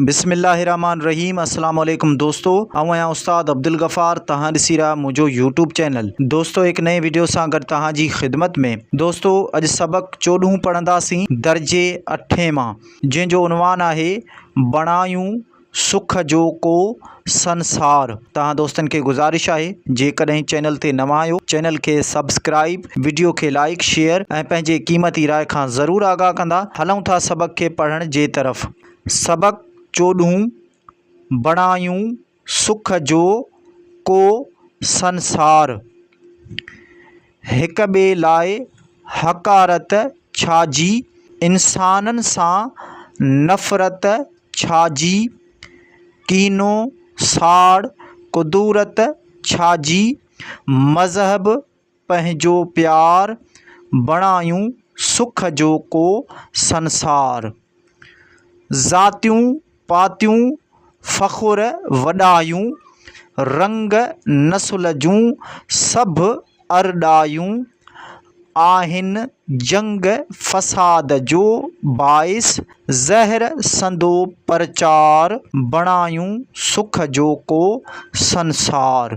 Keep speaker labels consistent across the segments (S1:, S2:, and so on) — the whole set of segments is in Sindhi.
S1: بسم الله الرحمن الرحيم السلام عليڪم دوستو آئون آهيان استاد عبدالغفار توهان ڏسي رهيا آهيو منهنجو يوٽيوب چينل دوستو هڪ نئين ويڊيو سان گڏ توهان جي خدمت ۾ دوستو اڄ سبق چوڏهون پڙهنداسين درجي اٺين مان جنهن جو عنوان آهي بڻايون سک جو ڪو سنسار توهان دوستن کي گذارش آهي جيڪڏهن چينل تي نوان آهيو چينل کي سبسڪرائب ويڊيو کي لائڪ شيئر ۽ پنهنجي قيمتي راء کان ضرور آگاهه ڪندا هلون ٿا سبق کي پڙهڻ جي طرف سبق چوڏهون، بڻايون سک جو ڪو سنسار، هڪ ٻئي لاء حقارت ڇا جي، انسانن سان نفرت ڇا جي، ڪينو ساڙ ڪدورت ڇا جي، مذهب پنهنجو پيار، بڻايون سک جو ڪو سنسار. ذاتيون پاتيون فخر وڏايون، رنگ نسل جون سڀ ارڏايون. آهن جنگ فساد جو باعث، زهر سندو پرچار. بڻايون سک جو ڪو سنسار.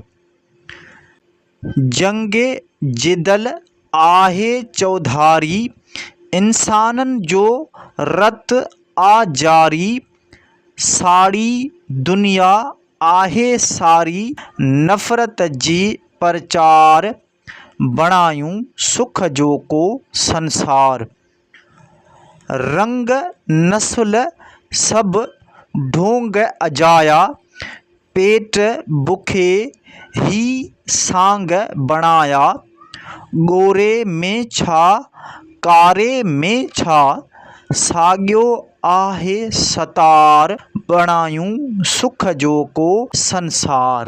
S1: جنگ جدل آهي چوڌاري، انسانن جو رت آ جاري، ساڙي دنيا آهي ساري، نفرت جي پرچار، بڻايون سک جو ڪو سنسار. رنگ نسل سڀ ڍونگ اجايا، پيٽ بکي هي سانگ بڻايا، ڳوري ۾ ڇا ڪاري ۾ ڇا، ساڳيو آهي ستار، بڻايون سک جو ڪو سنسار.